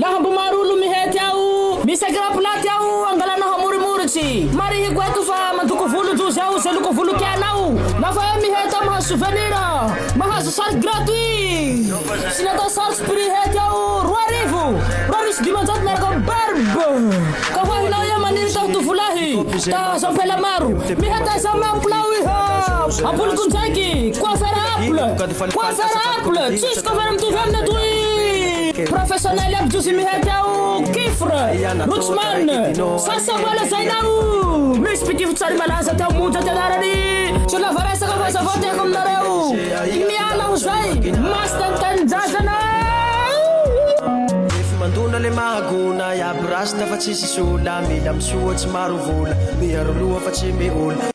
Laha mbo maro olo mihety ao misy akiraplaty ao angalana hamorimoritsy marihiko eto fa mandoko volo jozy ao ze loko volo tianao lafa hoe mihety ao mahazo souvenir mahazo sary gratuit sy ny atao sars prix hety ao roa arivo roa arivo sy dimanjato miaraka am barbe ka hoa hinao ia maniry taho tovolahy ta hahazo ampela maro mihety aiza am apple ao iha aboliko ndraiky coiffer apple coiffer apple tsisy coiffer mitovy aminy atoy. Professionel aby dozy mihety ao Kifr, Rochman, Sasa mba lazaina o! Misy mpitivo tsary malaza teo monja tena rary Tsy lava resaka fa zao vao tiako aminareo Ny miala ho zay Masta ny tanindrazana Rehefa mandona le mahagona Iaby rasta fa tsisy sola Mila misoa tsy maro vola Miaro loha fa tsy mihola